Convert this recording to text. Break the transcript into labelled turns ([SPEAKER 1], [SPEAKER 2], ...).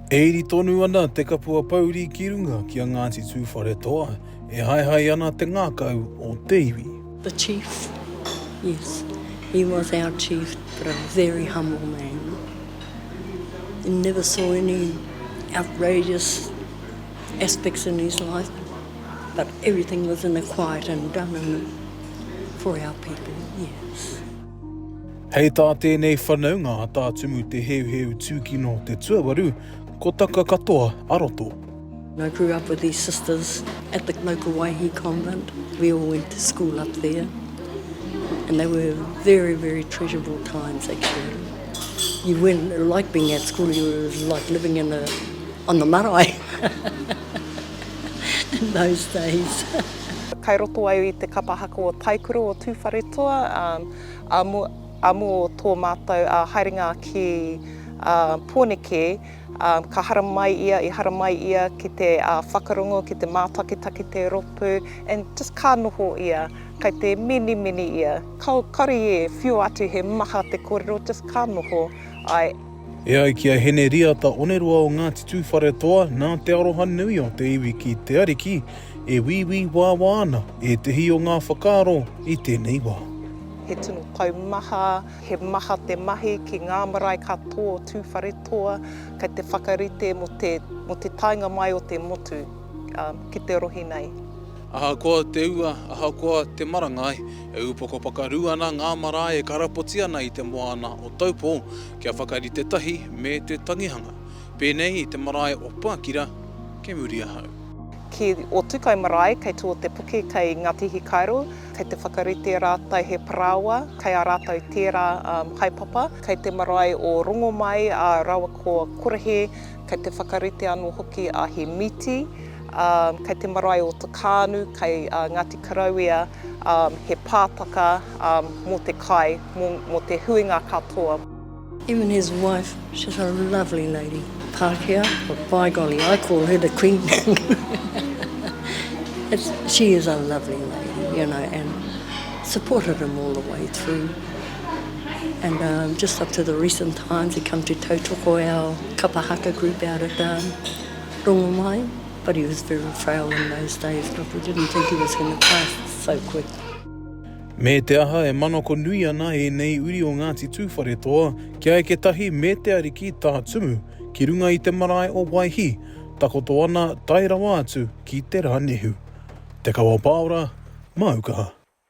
[SPEAKER 1] E iri tonu ana te kapua pouri ki runga ki a Ngāti Tūwharetoa, e haehae ana te ngākau o te iwi. The chief,
[SPEAKER 2] yes, he was our chief, but a very humble man. He never saw any outrageous aspects in his life, but everything was in a quiet and done in a, for our people, yes.
[SPEAKER 1] Hei tā tēnei whanaunga a Tā Tumu Te Heuheu Tūkino te tuawaru, ko taka katoa a Roto. I grew up
[SPEAKER 2] with these sisters at the local Waihi convent, we all went to school up there and they were very very treasurable times actually. You weren't like being at school, you were like living in a, on the marae in those days. Kai roto
[SPEAKER 3] au i te kapa haka o Taikura o Tūwharetoa. Amu o tō mātou haerenga ki Pōneke, ka haramai ia, i haramai ia ki te whakarongo, ki te mātakitaki te rōpū, and just ka noho ia, kei te minimini ia, kāore i whiua atu he maha te kōrero, just ka noho, I. E ai ki a
[SPEAKER 1] Heneriata Onerua o Ngāti Tūwharetoa, nā te aroha nui o te iwi ki te Ariki, e wīwī wāwā ana ētehi o ngā whakaaro i tēnei wā. He tino
[SPEAKER 3] taumaha, he maha te mahi ki ngā marae katoa o Tūwharetoa kei te whakarite mō te taenga mai o te motu ki te rohe nei. Ahakoa
[SPEAKER 1] te ua, ahakoa te marangai, e upoko pakaru ana ngā marae e karapoti ana i te moana o Taupō kia whakarite tahi me te tangihanga. Pēnei i te marae o Pākira, kei muri ahau. Ki
[SPEAKER 3] Otukai marae, kei Tuotepuke, kei Ngāti Hikairo, kei te whakarite rātou he parāoa, kei a rātou tērā haepapa. Kei te marae o Rongomai, ā, rawa ko Korahe, Kei te whakarite anō hoki a He Miti, kei te marae o Te Kānu, kei Ngāti Karouia, he pātaka mō te kai, mō te huinga katoa. Him and his
[SPEAKER 2] wife, she's a lovely lady, Pākehā, but by golly, I call her the Queen. She is a lovely lady, you know, and supported him all the way through. and um, just up to the recent times he come to tautoko our kapa haka group out at um, Rongomai, but he was very frail in those days, but we didn't think he was going to pass so quick. Me
[SPEAKER 1] te aha e manako nui ana e nei uri o Ngāti Tūwharetoa kia eke tahi me te ariki tā Tumu ki runga i te marae o Waihi, takoto ana tae rawa atu ki te Rānehu. Te Kawa Pāora, Māukaha.